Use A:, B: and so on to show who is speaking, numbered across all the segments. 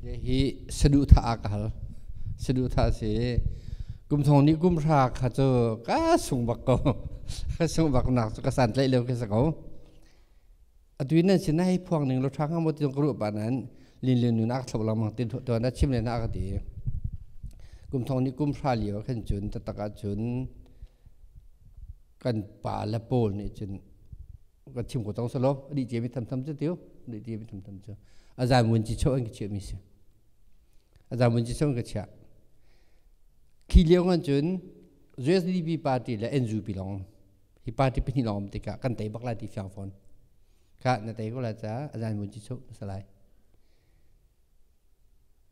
A: Hi saduhthah ah ka hal. Saduhthah a si i kum thong nih kum hra kha cu ka sung bak ko. Ka sung baknak cu ka santlaih lio khi si ko. Atu in nan sin hei phuang ning law ṭha hnga maw ti ka ruah pah nain linlian nun a ka thlop lengmang ti tuan a chim len ah a ka ti. Kum thong nih kum hra lio ah khin cun taktak ah cun kan pa le pawl nih cun ka thim ko tong solo adi che mi tham tham chu tiêu adi che mi tham tham chu azai mun chi chho an ki che mi si azai mun chi chho an ka cha khi leong an chun USDP party le NUP long hi party pahnih long tikah kan tai bakla ti fiang fon kha na tai ko la cha azai mun chi chho salai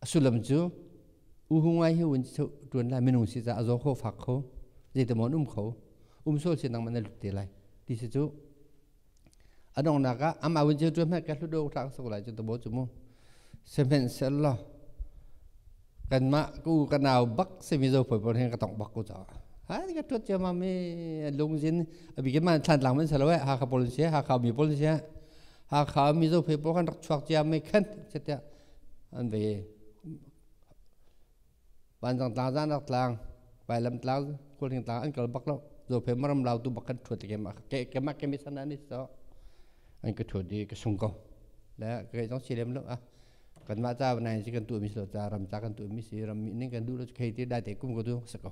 A: A sullam cu U Hung Wai Hyo in ṭuan lai minung si caah a zaw kho fak kho zeitimaw an um kho um sual si nangmah na lut te lai ti si cu a donghnak ah amah win ceu ṭuan hmanh ka hlut awk tlak so lai cu tabaw cu mu sihmanhsehlaw kanmah ku ka nau bak semi zo poi pon hin ka tong bak ku caah ha ni ka ṭuat ciamam i lungzin a bikin man thlan tlang man salo e Hakha policy Hakha mi policy Hakha Mizo people kan rak chuak cia mei khen tiah an ve. Vanzang tlang zan rak tlang vailam tlang kulhing tlang an kal bak lo zo phe maram lau tu bak kan thuat ke ma ke ke ma ke mi sana ni so an ka thuat di ka sung ko le ke jong si lem lo a kan ma cha banai si kan tu mi so cha ram cha kan tu mi si ram mi ning kan du lo khei ti dai te kum ko tu sa ko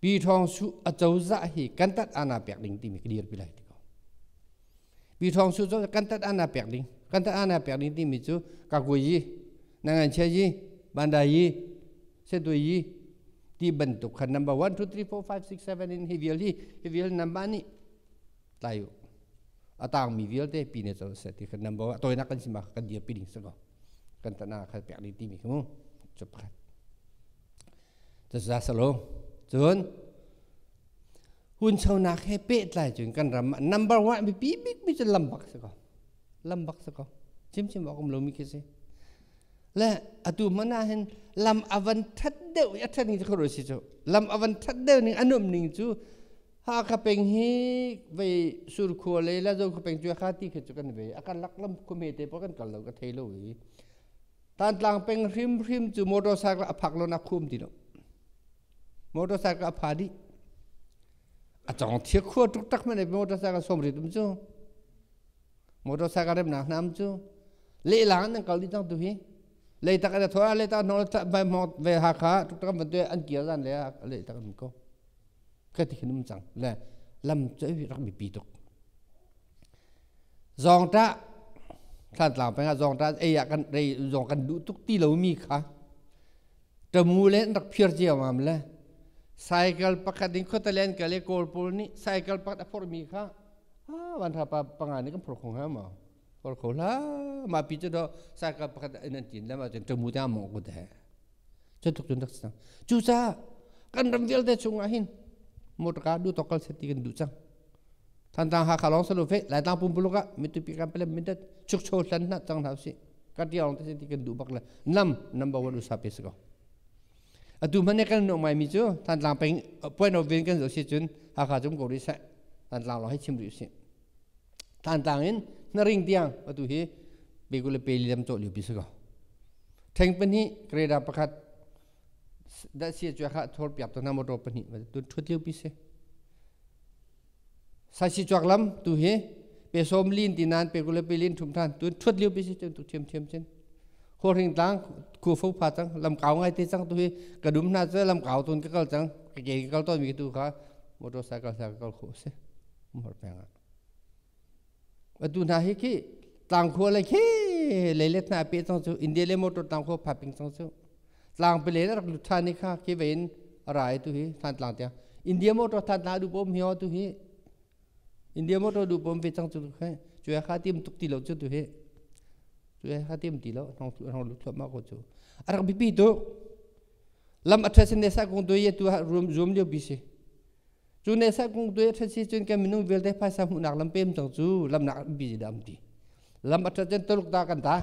A: Pi Ṭhawng Su a cozah hi kan tat ana pek ding timi ka dir pi lai ti ko. Pi Ṭhawng Su cozah kan tat ana pek ding kan tat ana pek ding timi cu Kakwe yi Nanganchia yi Bandai yi Setwe yi ti bantuk khan number 1 2 3 4 5 6 7 in hi vial hi hi vial number nih tlai u a tangmi vialte pi ne cozah ti khan number toinak kan sima kan dir pi ding sako kan tat ana khan pek ding timi ku cu pakhat Cusasalo cun hunchonak he pehtlai cun kan ram number one biapi bikmi cu lambak si ko lambak si ko chimchim awk um lomi khi si le atu hmanh ah hin lam avan ṭhat deuh i a ṭhat ning cu khuaruah si cu lam avan ṭhat deuh ning a nuamh ning cu Hakha peng hi vei surkhua le Lazo khua peng cu kha ti khi cu kan vei a kan lak lam khua me te pa kan kal lo ka thei lo i Tantlang peng hrimhrim cu motorcycle a phak lon a khum ti lo. Motorcycle a pha dih. A cawng thia khua tuk tak man motorcycle som ritum cu. Motorcycle rem nak nam cu. Lehlang an kal dih tang tu hi. Lei tak ada thoa lei tak no vai mong vai ha kha tuk tak man tu an kir dan le lei tak an ko. Ka ti khinum cang le lam choi rak mi pi tuk. Zawngṭah Thlantlang peng ah zawngṭah ei ah kan ei zawng kan duh tuk ti lomi kha ṭamu le an rak phir ciammam le cycle pakhat in khuatalen kal i kawl pawl nih cycle pakhat a phorhmi kha a vanhrapa panga nih kan phor kho hnga maw? Phor kho hlah. Mah pi cu do cycle pakhat in an ṭin le mah cun ṭamu tiang a mawh kut he. Cutuk cun rak si cang. Cucaah kan ram vialte chungah hin motorka duhtawk kal set ti kan duh cang. Thantang Hakha lawng salu fe Laitlang pumpuluk ah mitupi kan palem mindat chukcho hlan hna cang hna usih. Kan tia lawng te ti kan duh bak le nam number one usa pe si ko. Atu hmane kan nuh mai mi cu Thantlang peng point of view kan zo si cun Hakha cum ko ri seh Thantlang lawng hi chim rih usih. Tantlang in na ring tiang atu hi pegu le peli lam cawh lio pi si ko. Theng pahnih kreda pakhat dahsia cuai kha thor piap to na motor pahnih tu thut lio pi si. Saisi chuak lam tu hi pe som lin ti nan pegu le pelin thum than tu thut lio pi si cun tu thiam thiam chin. Ho ring tlang ku fo pha cang lam kau ngai te cang tu hi ka dum hna cu lam kau tun ka kal cang ka ke ka kal ton mi tu kha motorcycle sa ka kal kho si. Umar peng ah. Atu hna hi khi tlangkhua le khi leilet hna pe cang cu India le motor tlangkhua phaping cang cu. Tlang pile na rak lut ṭhan i kha khi vein a ra e tu hi Thantlang tiang. India motor that na duh pom hi ho tu hi. India motor duh pom ve cang cu khe. Cuya kha tim tuk ti lo cu tu hi. Cuya kha tim ti lo hong hong lut thuam ma ko cu. A rak bipi tu. Lam aṭha sin ne sa kong tu ye tu ha room zoom lio bisi. cu ne sat kung tu that si cun kan minung vialte phaisa hmuhnak lam pem cang cu lamnak an bi da am ti lam a that cun Tuluk ta kan ta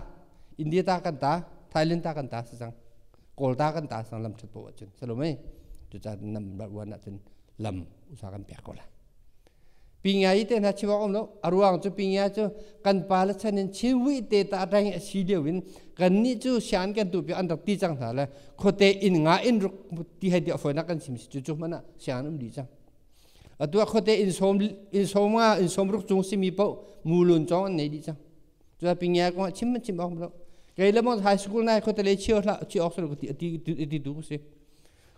A: India ta kan ta Thailand ta kan ta si cang Kawl ta kan ta sang lam that po cun salomai cu ca nam rat wan ah cun lam usa kan pek ko la pinga i te na chiwak om lo aruang cu pinga cu kan pa le chan in chiwi te ta reng a si deuh in kan ni cu sian kan tu pi an rak ti cang hna le khuate inn nga in ruk ti hai dia foina kan sim si chu chu mana siang um di chang atu khuate in som in som nga in som ruk chung simi po mulun chong an nei di chang chu a pingia ko chim chim ok bro kei le mo high school nai khuate le chiu hla chi ok sel ti ti ti tu si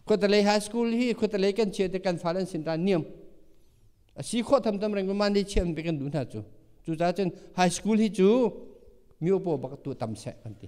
A: khuate le high school hi khuate le kan chia te kan falen sin ta niam asi kho tham tam reng man de chian pe kan du na chu chu cha chen high school hi chu mi opo bak tu tam se kan ti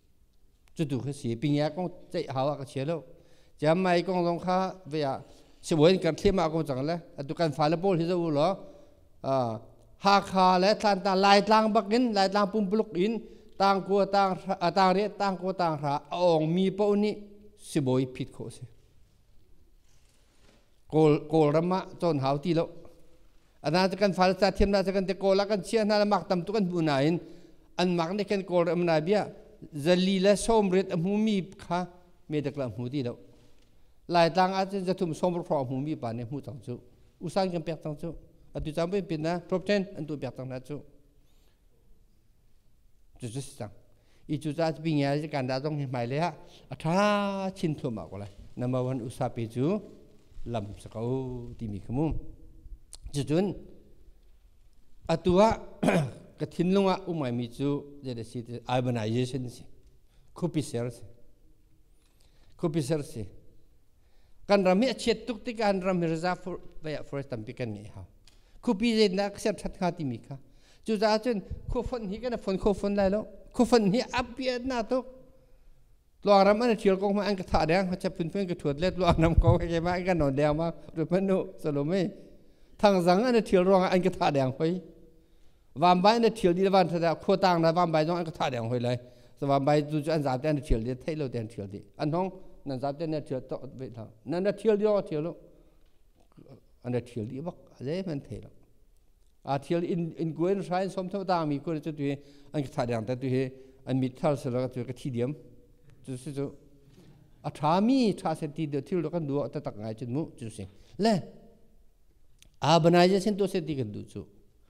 A: cutu kha si pingia kong ceih hau a ka chia lo chiam mai kong zong kha ve ah sibuin kan thlim ah ko cang le atu kan fa le paul hi zawu lo Hakha le Tlanta Laitlang bakin Laitlang pumpuluk in tangkua tang tang re tangkua tang ra a ong mi po ni sibawi phit kho si Kawlram ah cawn hau ti lo. Ana te kan fale ca thiam hna cu kan te kawl ah kan chia hna le mak tam tu kan hmu nain an mak nih khin kawlram nai bia zali le sawmriat a hmumi kha medak la hmu ti lo. Laitlang ah cun zathum sawmruk hrawng hmumi pa nih hmu cang cu. Usan kan pek cang cu. Atu cang pin na top ten an tu pek cang hna cu. cu cu si cang i cucaah pingiai zikan dah zong hi hmailei ah a ṭha chin thluahmah ko lai number one usape cu lam si ko timi kha mu cucun atu ah ka thinlung ah um ngaimi cu zei a si ti urbanization a si khupi ser a si khupi ser si kan ram hi a chiat tuk tikah ram hi reserve for vei ah forest tampi kan ngei hau khupi zeitindah ka ser that hnga timi kha cucaah cun khuafon hi kan fon kho fon lai lo khuafon hi a piat na tuk tluang ram an thial kong ma an ka thah deng ma chap phun phun ka thuat let tluang ram ko ke ma an ka non deng ma ru man nu salome thang zang an thial ruang an ka thah deng hoi vambai na thil di van tha khua tang na vambai zong an ka thah deng hoi lai so vambai tu chu an zam te an thil di thei lo te an thil di an hong nan zam te na thil to ve tha na na thil di thil lo an na thil di bak ze man thei lo a thil in in guen shrine som thau tang mi ku chu tu an ka thah deng ta tu hi an mit thar sala ka tu ka thi diam chu si chu a tha mi tha se ti de thil kan du ta tak ngai chin mu chu si le a banai je sin to se ti kan du chu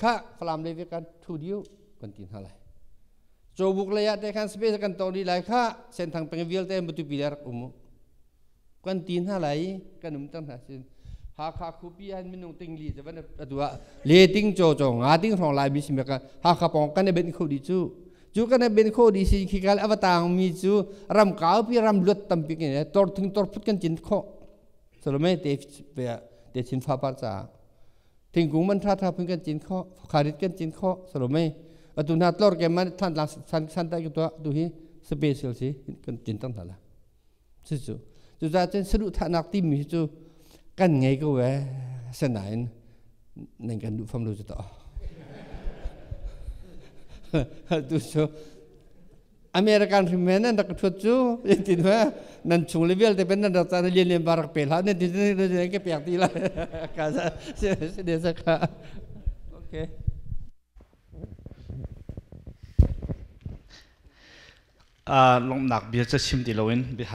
A: kha falam le kan thu diu kan ti hna lai cho buk lei ah te khan space kan to di lai kha senthang peng vialte matupi der um kan ti hna lai kan um tan hna sin hakha khupi an minung ting li javan atua le ting cho cho nga ting rong lai mi simeka hakha pong kan ben kho di chu chu kan ben kho di si khi kal avatang mi chu ram kau pi ram luat tampi ke ne tor thing tor phut kan chin kho solome te pe te chin fa par cha thingkung man tha tha phun kan cin kho kharit kan cin kho salome atu na tlor ke man than la san san ta to tu hi special si kan cin tang tala su su tu ta chen sadu tha nak tim mi chu kan ngai ko we sanain nan kan du fam lu chu to tu so American hrimen nan rak ka thuat cu in tin ve nan chung le vialte ben nan rak caan lian lian ba rak pe hla ne tin tin ke piak ti la ka sa si de sa ka okay lomnak bia ca sim ti loin bihar